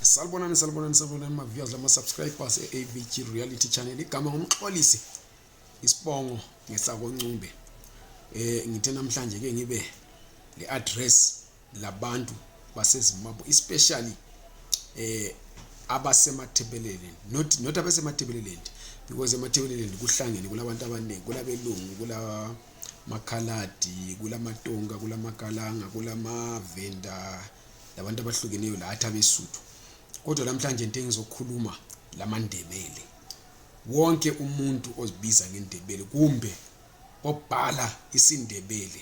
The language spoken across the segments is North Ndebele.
Salibonani salibonani salibonani maviewers lama subscribers e-AVG Reality Channel igama ngumxolisi isibongo ngesakoncumbe eh ngithe namhlanje ke ngibe le address labantu baseZimbabwe especially eh abasemathebeleleni not not abasemathebeleleni because emathebeleleni kuhlangene kulabantu abaningi kulabelungu kula makhaladi kulamatonga kulamakalanga kulamavenda kula labantu abahlukeneyo lathi abesuthu kodwa namhlanje into engizokhuluma lamandebele wonke umuntu ozibiza ngendebele kumbe obhala isindebele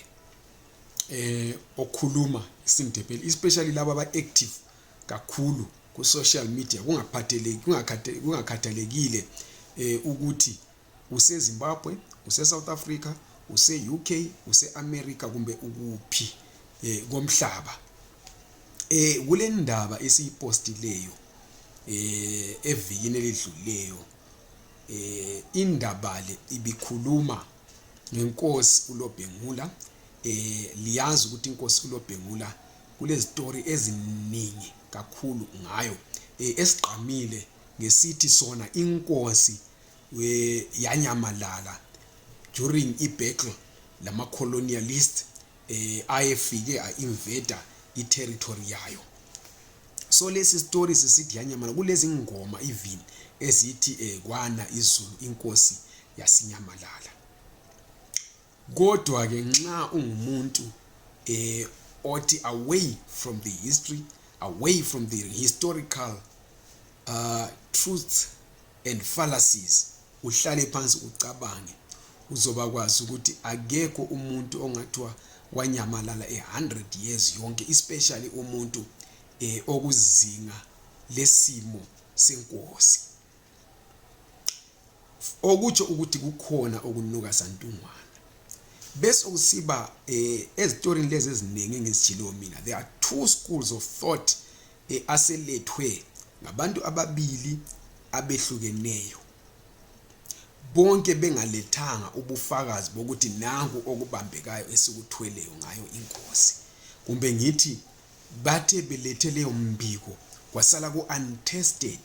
eh okhuluma isindebele especially laba aba active kakhulu ku social media kungaphatheleki kungakhathalekile eh ukuthi usezimbabwe usesouth africa use-uk use-america kumbe ukuphi um komhlaba um kule ndaba esiyipostileyo um evikini elidlulileyo um indaba le ibikhuluma ngenkosi ulobhengula eh liyazi ukuthi inkosi kulobhengula kulezitori eziningi kakhulu ngayo eh, esigqamile ngesithi sona inkosi we yanyamalala during ibattle lama colonialist eh ayefike a invader i territory yayo so lesi story sisithi yanyamalala kulezi ngoma even ezithi eh kwana izulu inkosi yasinyamalala kodwa ke nxa ungumuntu eh othi away from the history away from the historical uh, truths and fallacies uhlale phansi ucabange uzoba kwazi ukuthi akekho umuntu ongathiwa wanyamalala e-100 years yonke especially umuntu eh, okuzinga lesimo senkosi okutsho ukuthi kukhona okunuka santungwana besokusiba eh, ezitorini lezi eziningi engizijileyo mina there are two schools of thought eh, aselethwe ngabantu ababili abehlukeneyo bonke bengalethanga ubufakazi bokuthi nangu okubambekayo esikuthweleyo ngayo inkosi kumbe ngithi bathe belethe leyo mbiko kwasala ku-untested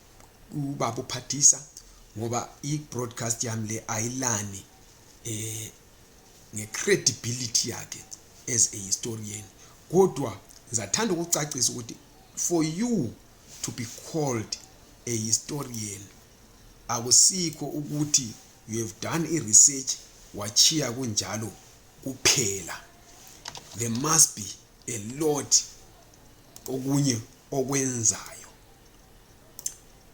ubaba uphathisa ngoba i-broadcast yami le ayilani eh nge-credibility yakhe as a historian kodwa ngizathanda ukucacisa ukuthi for you to be called a historian akusikho ukuthi you have done i-research wachiya kunjalo kuphela there must be a lot okunye okwenzayo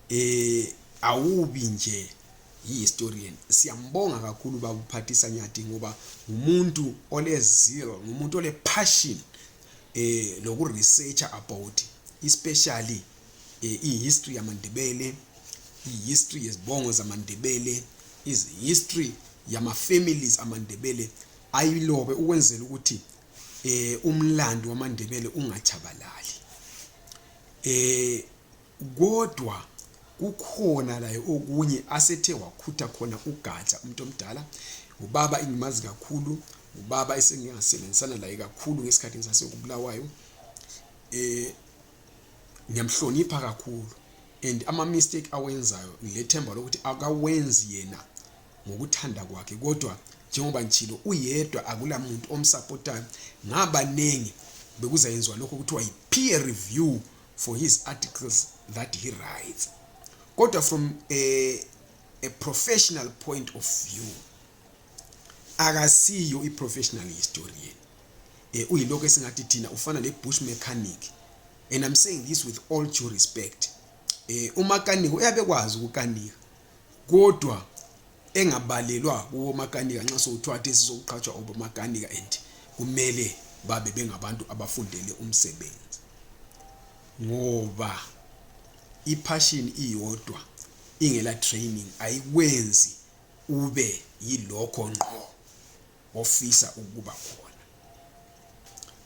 eh awubi nje yi-historian siyambonga kakhulu bakuphathisa nyadi ngoba ngumuntu olezil ngumuntu ole-passion eh lokuresearcha about especially eh, i-history yamandebele i-history yezibongo zamandebele izi-history yama-families amandebele ayilobe ukwenzela ukuthi eh umlando wamandebele ungachabalali eh kodwa kukhona laye okunye asethe wakhutha khona ugatsha umuntu omdala ubaba engimazi kakhulu ubaba esengingasebenzisana laye kakhulu ngesikhathi ngisasekubulawayo eh ngiyamhlonipha kakhulu and ama mistake awenzayo ngilethemba lokuthi akawenzi yena ngokuthanda kwakhe kodwa njengoba ngitshilo uyedwa akulamuntu omsapotayo ngabanengi bekuzayenziwa lokho kuthiwa yi-peer review for his articles that he writes kodwa from a, a professional point of view akasiyo i-professional historian um uyilokho esingathi thina ufana ne-bush mechanic and i'm saying this with all due respect um eh, umakaniko uyabekwazi ukukanika kodwa engabalelwa kuwomakanika nxa sokuthiwa athe sizokuqhatshwa obomakanika and kumele babe bengabantu abafundele umsebenzi ngoba iphashini iyodwa ingela training ayikwenzi ube yilokho ngqo ofisa ukuba khona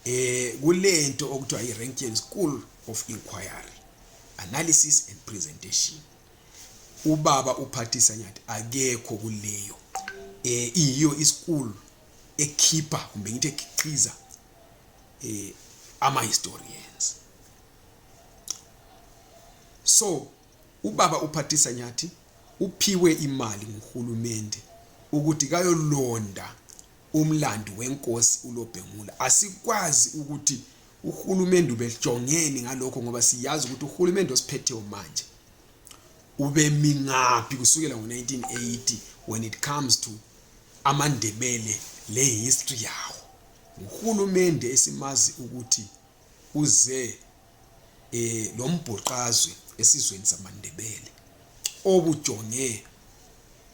eh kulento okuthiwa i-rankian school of inquiry analysis and presentation ubaba uphathisa nyathi akekho kuleyo eh iyiyo ischool ekhipha kumbe ngithi ekhiqiza eh ama historians so ubaba uphathisa nyathi uphiwe imali nguhulumende ukuthi kayolonda umlandi wenkosi ulobhengula asikwazi ukuthi uhulumende ubejongeni ngalokho ngoba siyazi ukuthi uhulumende osiphetheyo manje ubemi ngaphi kusukela ngo-1980 when it comes to amandebele lehistory yawo nguhulumende esimazi ukuthi uze eh lo mbhoqazwe esizweni samandebele obujonge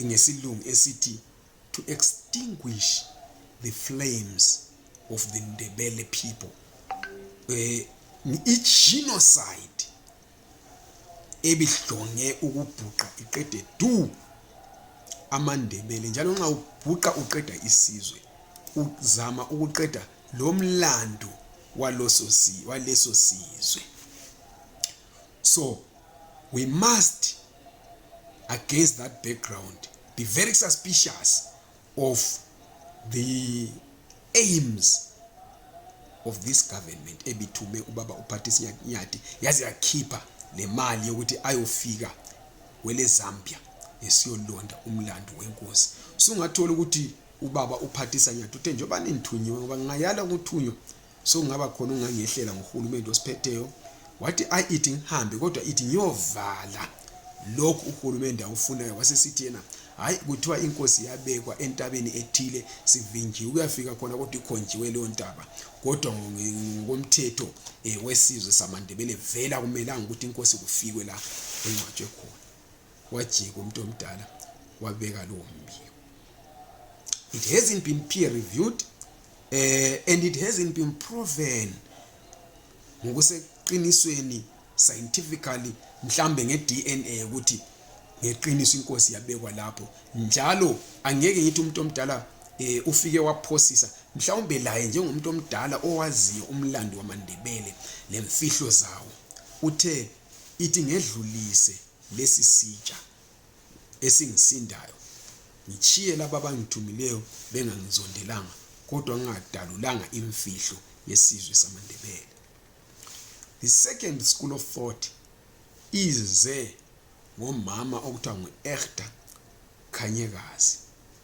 ngesilungu esithi to extinguish the flames of the ndebele people eh i genocide ebihlonge ukubhuqa iqede du amandebele njalo nxa ubhuqa uqeda isizwe uzama ukuqeda lo mlando waleso sizwe so we must against that background be very suspicious of the aims of this government ebithume ubaba uPatrice Nyathi yaze yakhipha nemali yokuthi ayofika kwele Zambia esiyolonda umlando wenkosi sungathola ukuthi ubaba uPhathisa Nyathi uthe njengoba nithunyiwe ngoba ngingayala ukuthunywa sokungaba khona ungangehlela nguhulumende osiphetheyo wathi ayi ithi ngihambe kodwa ithi ngiyovala lokhu uhulumende awufunayo wasesithi yena hayi kuthiwa inkosi yabekwa entabeni ethile sivinjiwe kuyafika khona kodwa ikhonjiwe leyo ntaba kodwa ngokomthetho um wesizwe samandebele vela kumelanga ukuthi inkosi kufikwe la engcwatshwe khona wajika umuntu omdala wabeka lowo mbiko it hasn't been peer reviewed uh, and it hasn't been proven ngokuseqinisweni scientifically mhlambe nge-dna ukuthi ngeqiniso inkosi yabekwa lapho njalo angeke ngithi umuntu omdala eh ufike waphosisa mhlawumbe laye njengomuntu omdala owaziyo umlando wamandebele lemfihlo zawo uthe ithi ngedlulise lesi sitsha esingisindayo ngitshiye laba abangithumileyo bengangizondelanga kodwa ngingadalulanga imfihlo yesizwe samandebele the second school of thought ize ngomama okuthiwa ngu-ehta khanyekazi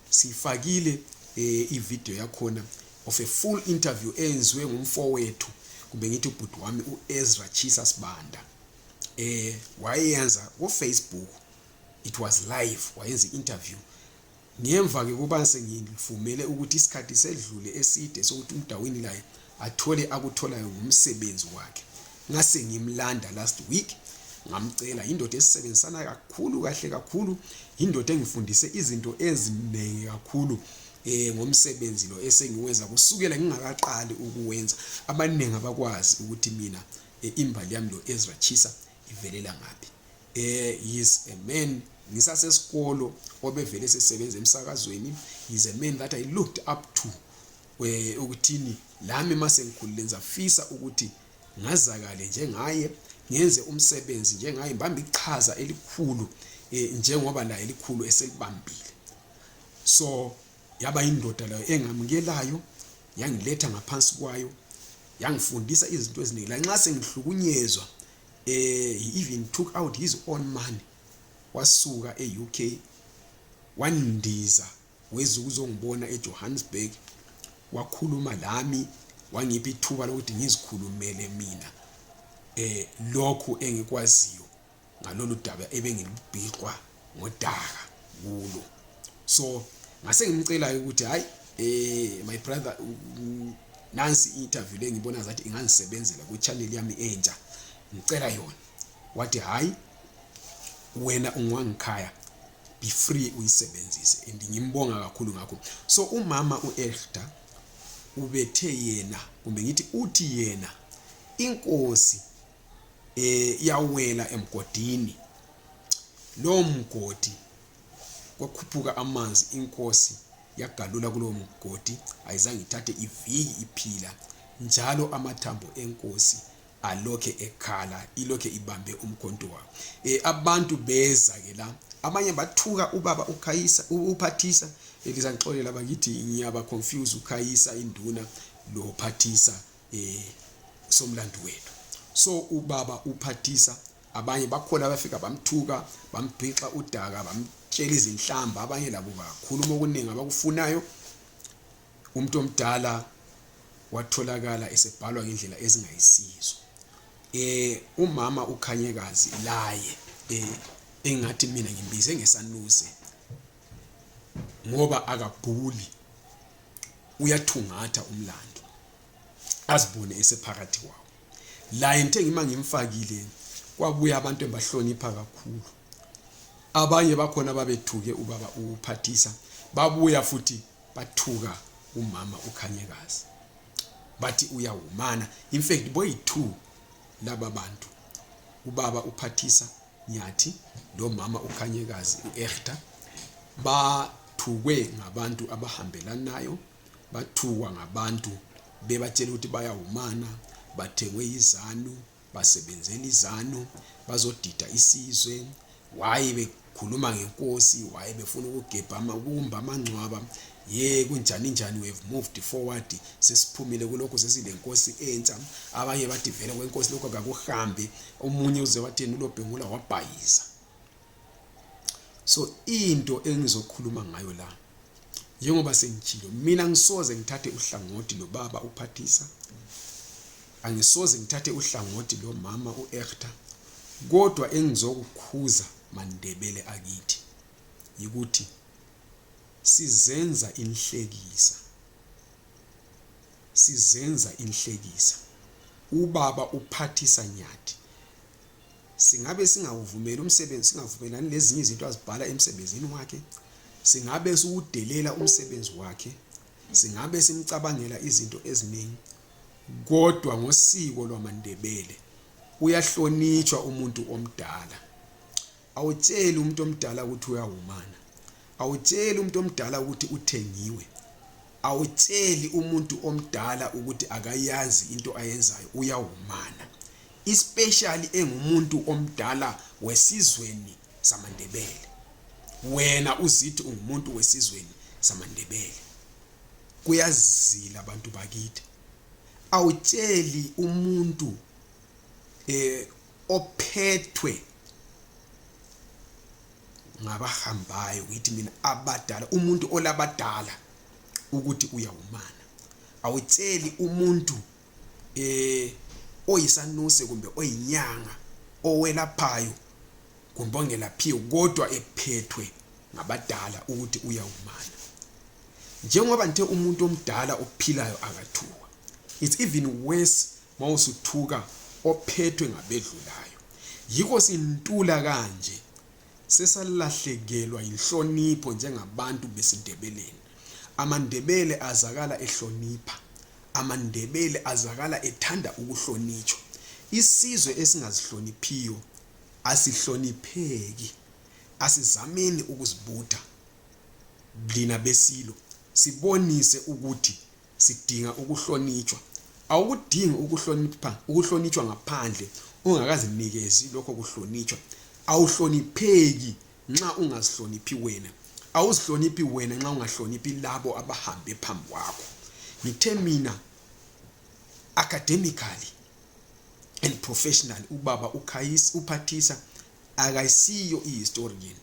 siyifakile eh, ividiyo yakhona of a full interview eyenziwe ngumfowethu kumbe ngithi ubhuti wami u-ezra chisa sibanda eh wayenza ku Facebook it was live wayenza interview ngemva ke kuba sengivumele ukuthi isikhathi sedlule eside sokuthi umdawini laye athole akutholayo ngomsebenzi wakhe ngase ngimlanda last week ngamcela yindoda esisebenzisana kakhulu kahle kakhulu yindoda engifundise izinto eziningi kakhulu eh ngomsebenzi lo esengiwenza kusukela ngingakaqali ukuwenza abaningi abakwazi ukuthi mina e, imbali yami loezra chisa ivelela ngaphi eh he's a man ngisasesikolo obevele sesebenza emsakazweni he's a man that i looked up to eh, ukuthini lami mase ngikhulile ngizafisa ukuthi ngazakale njengaye ngenze umsebenzi njengaye mbambe ichaza elikhulu eh, njengoba laye elikhulu eselibambile so yaba yindoda layo engamukelayo yangiletha ngaphansi kwayo yangifundisa izinto eziningi lanxa sengihlukunyezwa eh he even took out his own money wasuka e-UK wandiza weza ukuzongibona eJohannesburg wakhuluma lami wangipha ithuba lokuthi ngizikhulumele mina eh lokhu engikwaziyo ngalolu daba ebengilubhiqwa ngodaka kulo so ngase ngimcelayo ukuthi hayi eh my brother nansi interview lengibona zathi ingangisebenzela ku channel yami entsha ngicela yona wathi hayi wena ungwangikhaya be free uyisebenzise and ngimbonga kakhulu ngakho so umama uElda ubethe yena kumbe ngithi uthi yena inkosi eh yawela emgodini lowo mgodi kwakhuphuka amanzi inkosi yagalula kulowo mgodi ayizange ithathe iviki iphila njalo amathambo enkosi alokhe ekhala ilokhe ibambe umkhonto wawo eh abantu beza ke la abanye bathuka ubaba ukhayisa uphathisa elizangixolela bakithi ngiyaba confuse ukhayisa induna lo phathisa eh somlando wethu so ubaba uphathisa abanye bakhona abafika bamthuka bambhixa udaka bamtshela izinhlamba abanye labo bakhuluma okuningi abakufunayo umuntu omdala watholakala esebhalwa ngendlela ezingayisizo eh umama ukhanyekazi laye eh engathi mina ngimbize ngesanuze ngoba akabhuli uyathungatha umlando azibone esephakathi kwawo laye ngithe ngima ngimfakile kwabuya abantu engibahlonipha kakhulu abanye bakhona babethuke ubaba uphathisa babuya futhi bathuka umama ukhanyekazi bathi uyawumana in fact boyi-two laba bantu ubaba uphathisa nyathi lomama ukhanyekazi u-erta ba bathukwe ngabantu abahambelanayo bathukwa ngabantu bebatshela ukuthi bayawumana bathengwe yizanu basebenzela izanu bazodida isizwe waye bekhuluma ngenkosi waye befuna ukugebha ukumba amangcwaba ye kunjani njani we've moved forward sesiphumile kulokho sesilenkosi entsha abanye bathi vele kwenkosi lokho kakuhambi omunye uze wathini ulobhengula wabhayiza so into engizokhuluma ngayo la njengoba sengitshilo mina ngisoze ngithathe uhlangothi lobaba uphathisa angisoze ngithathe uhlangothi lomama uErta kodwa engizokukhuza mandebele akithi yikuthi sizenza inhlekisa sizenza inhlekisa ubaba uphathisa nyathi singabe singawuvumeli umsebenzi singavumelani lezinye izinto azibhala emsebenzini wakhe singabe siwudelela umsebenzi wakhe singabe simcabangela izinto eziningi kodwa ngosiko lwamandebele uyahlonitshwa umuntu omdala awutsheli umuntu omdala ukuthi uyawumana awutsheli umuntu omdala ukuthi uthengiwe awutsheli umuntu omdala ukuthi akayazi into ayenzayo uyawumana especially engumuntu omdala wesizweni samandebele wena uzithi ungumuntu wesizweni samandebele kuyazila abantu bakithi awutsheli umuntu eh ophethwe ngabahambayo ngithi mina abadala umuntu olabadala ukuthi uyawumana awutsheli umuntu eh oyisanuse kumbe oyinyanga owelaphayo kumbe ongelaphiyo kodwa ephethwe ngabadala ukuthi uyawumana njengoba nithe umuntu omdala ophilayo akathuwa it's even worse ma usuthuka ophethwe ngabedlulayo yikho sintula kanje sesalahlekelwa yinhlonipho njengabantu besindebeleni amandebele azakala ehlonipha amandebele azakala ethanda ukuhlonitshwa isizwe esingazihloniphiyo asihlonipheki asizameni ukuzibutha lina besilo sibonise ukuthi sidinga ukuhlonitshwa awukudingi ukuhlonipha ukuhlonitshwa ngaphandle ungakazinikezi lokho kuhlonitshwa awuhlonipheki nxa ungazihloniphi wena awuzihloniphi wena nxa ungahloniphi labo abahambe phambi kwakho ngithe mina academically and professionally ubaba ukhayisa uphathisa akayisiyo ihistorian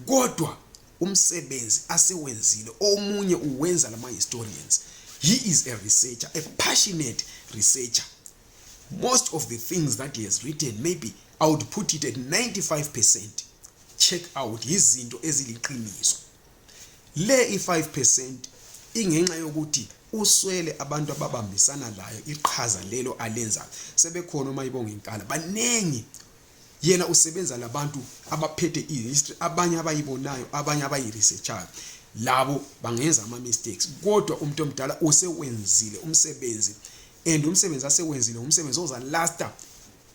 kodwa umsebenzi asewenzile omunye uwenza lama historians he is a researcher a passionate researcher most of the things that he has written maybe i would put it at 95 percent check out yizinto eziliqiniso le i-5 percent ingenxa yokuthi uswele abantu ababambisana layo iqhaza lelo alenzayo sebekhona uma ibonga inkala baningi yena usebenza labantu abaphethe i-history abanye abayibonayo abanye abayi-researchayo labo bangenza ama-mistakes kodwa umuntu omdala usewenzile umsebenzi and umsebenzi asewenzile ngumsebenzi ozalasta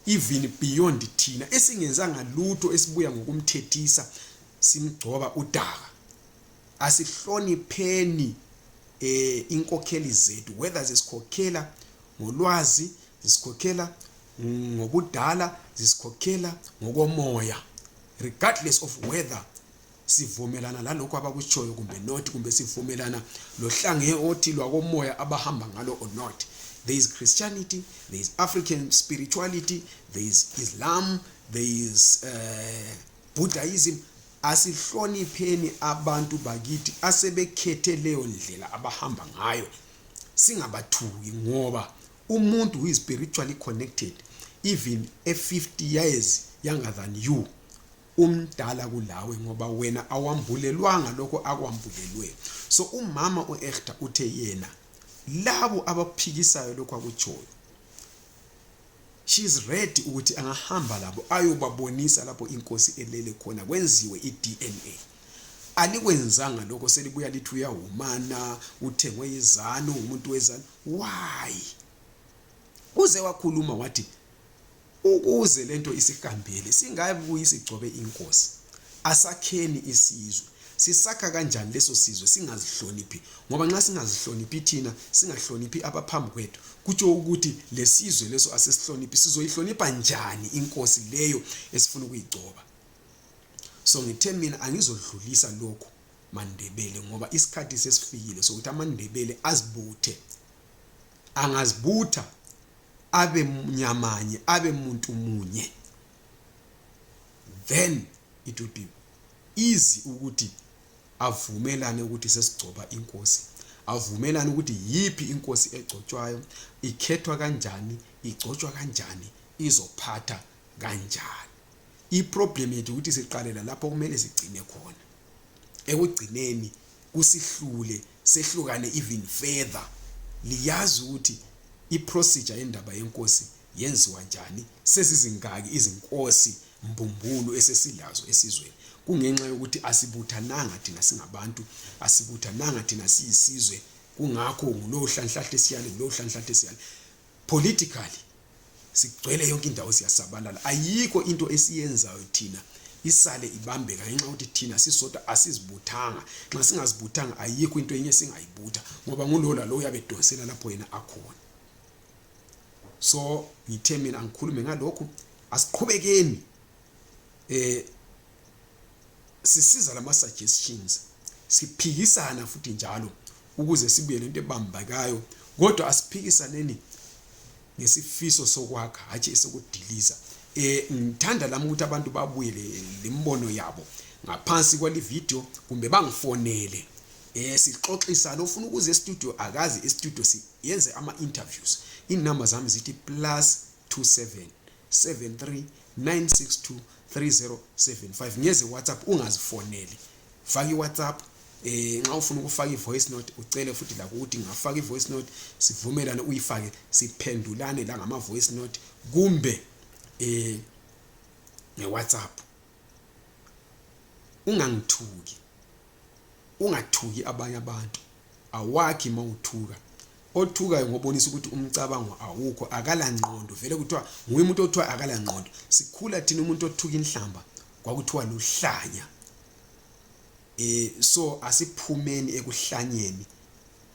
even beyond thina esingenzanga lutho esibuya ngokumthethisa simgcoba udaka asihlonipheni eh inkokheli zethu whether zisikhokhela ngolwazi zisikhokhela ngobudala zisikhokhela ngokomoya regardless of whether sivumelana lalokho abakutshoyo kumbe not kumbe sivumelana lohlange othi lwakomoya abahamba ngalo or not there is christianity there is african spirituality there is islam there is uh, buddhism asihlonipheni abantu bakithi asebekhethe leyo ndlela abahamba ngayo singabathuki ngoba umuntu who is spiritually connected even e-50 years younger than you umdala kulawe ngoba wena awambulelwanga lokho akwambulelwe so umama u-ehta uthe yena labo abaphikisayo lokho akutshoyo she is ready ukuthi angahamba labo ayobabonisa lapho inkosi elele khona kwenziwe i-dna alikwenzanga lokho selibuya lithi uyawumana uthengwe izanu umuntu wezanu why uze wakhuluma wathi ukuze lento isihambele singabuyi sigcobe inkosi asakheni isizwe Sisakha kanjani leso sizwe singazihloniphi? Ngoba nxa singazihloniphi thina, singahloniphi abaphambi kwethu, kutsho ukuthi lesizwe leso asisihloniphi. Sizoyihlonipha njani inkosi leyo esifuna ukuyigcoba? So ngithe mina angizodlulisa lokhu mandebele ngoba isikhathi sesifikile sokuthi amandebele azibuthe angazibutha abe nyamanye abe muntu munye then it will be easy ukuthi avumelane ukuthi sesigcoba inkosi avumelane ukuthi yiphi inkosi egcotshwayo ikhethwa kanjani igcotshwa kanjani izophatha kanjani iproblem yethu ukuthi siqalela lapho kumele sigcine khona ekugcineni kusihlule sehlukane even further liyazi ukuthi iprocedure yendaba yenkosi Yenziwa njani? Sezizingaki izinkosi mbumbulu esesilazo esizweni? Kungenxa yokuthi asibuthananga thina singabantu, asibuthananga thina siyisizwe. Kungakho ngulowo hlanhlahle siyale, ngulowo hlanhlahle siyale. Politically sigcwele yonke indawo siyasabalala. Ayikho into esiyenzayo thina isale ibambeka ngenxa ukuthi thina sisodwa asizibuthanga nxa singazibuthanga ayikho into enye singayibutha ngoba ngulowo lalowo uyabe edonsela lapho yena akhona so ngithe mina ngikhulume ngalokhu asiqhubekeni eh sisiza lama suggestions siphikisana futhi njalo ukuze sibuye lento ebambakayo kodwa asiphikisaneni ngesifiso sokwakha hatshi esokudiliza eh ngithanda lami ukuthi abantu babuye lembono yabo ngaphansi kwali video kumbe bangifonele eh sixoxisa lofuna ukuze studio akazi istudio siyenze ama interviews inumber zami zithi plus 27 73 962 3075 ngeze whatsapp ungazifoneli faka iwhatsapp eh nxa ufuna ukufaka ivoice note ucele futhi lakuthi ngafaka ivoice note sivumelane uyifake siphendulane la ngama voice note kumbe eh nge whatsapp ungangithuki ungathuki abanye abantu awakhi mawuthuka othukayo ngobonisa ukuthi umcabango awukho akalangqondo vele kuthiwa nguye umuntu othiwa akalangqondo sikhula thina umuntu othuka inhlamba kwakuthiwa luhlanya eh so asiphumeni ekuhlanyeni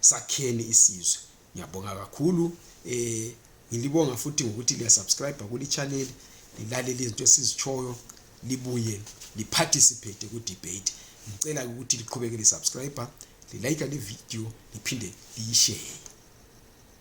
sakheni isizwe Ngiyabonga kakhulu eh ngilibonga futhi ngokuthi liya subscribe kuli channel lilalele izinto esizitshoyo libuye liparticipate ku debate ngicela ukuthi liqhubeke li subscribe lilike le video liphinde liyishare